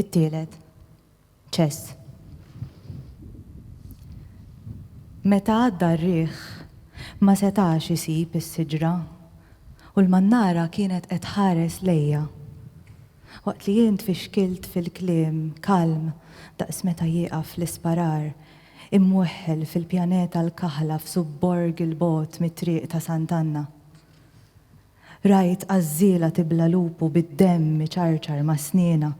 It-tielet. Ċess. Meta għadda r-riħ, ma setax isib is-siġra u l-mannara kienet qed tħares lejja. Waqt li jien tfixkilt fil-kliem kalm daqs meta jieqaf l-isparar, imweħħel fil-pjaneta l-kaħla f'subborg 'il bogħod mit-triq ta' Sant'Anna. Rajt għażżiela tibla' lupu bid-demm iċarċar ma' snienha.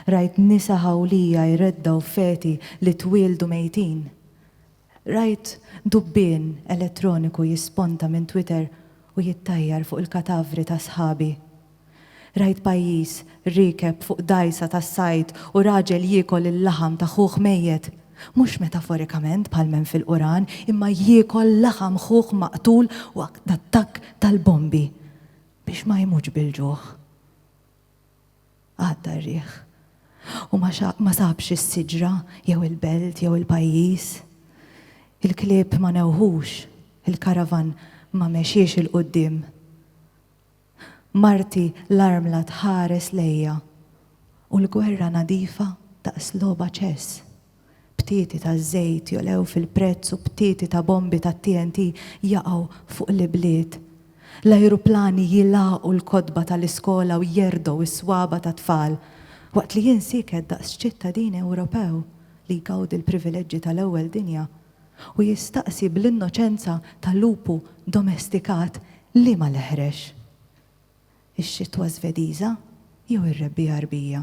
Rajt nisa ħawlija jreddgħu feti li twieldu mejtin. Rajt dubbien elettroniku jisponta minn Twitter u jittajjar fuq il-katavri ta' sħabi. Rajt pajjiż riekeb fuq dgħajsa tas-sajd u raġel jiekol il-laħam ta' ħuh mejjet. mhux metaforikament bħal m'hemm fil-Quran, imma jiekol laħam ħuh maqtul waqt l-attakk tal-bombi biex ma jmutx bil-ġuħ. Għadda r-riħ. U ma, ma sabx is-siġra jew il-belt jew il-pajjiż. Il-klieb ma newħux, il-karavan ma mexiex il-quddiem. Marti l-armla tħares lejja u l-gwerra nadifa daqs logħba ċess. Btieti ta' żejt jogħlew fil-prezz u btieti ta' bombi tat-TNT jaqgħu fuq l-ibliet. L-ajruplani jilgħaqu l-kotba tal-iskola u jerdgħu s-swaba' tat-tfal, waqt li jien sieket daqs ċittadin Ewropew li jgawdi l-privileġġi tal-ewwel dinja u jistaqsi bl-innoċenza ta' lupu domestikat liema l-eħrex, ix-xitwa Żvediża jew ir-rebbiegħa Rbija.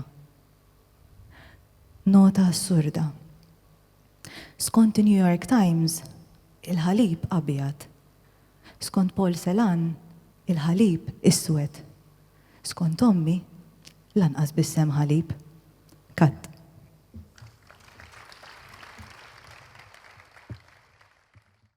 Nota assurda. Skont in-New York Times, il-ħalib abjad. Skont Paul Celan, il-ħalib iswed. Skont ommi, Lanqas b'isem ħalib. Cut.